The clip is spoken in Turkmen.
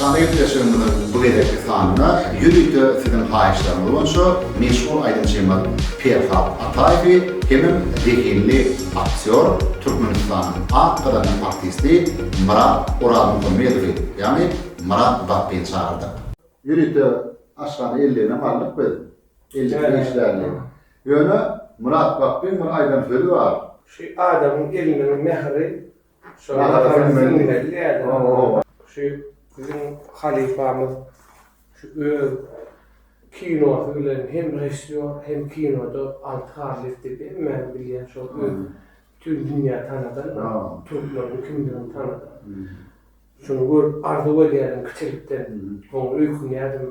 Aşgabada gepleşigimiziň bu gezekki sanynda ýörite siziň haýyşlaryňyz boýunça meşhur aýdymçymyz Perhat Ataýewi hemem zehinli aktýor, Türkmenistanyň at gazanýan artisti Myrat Orazmuhammedowy, ýagny Myrat Battyny çagyrdyk. Ýörite Aşgabada elligine bardyk biz. Ellik beş däldi. Ýöne Myrat Battyň bir aýdan sözi bar. Şu adamyň eliniň mähri Biziň halypamyz şu öz kinosy bilen hem režissýor hem kinoda Alty Garlyýew diýip hemmäniň bilýän şol öz bütin dünýä tanadan türkmeniň kimdigini tanadan. Şuny görüp arzuw edýädim kiçilikden. Oňa öýkünýädim.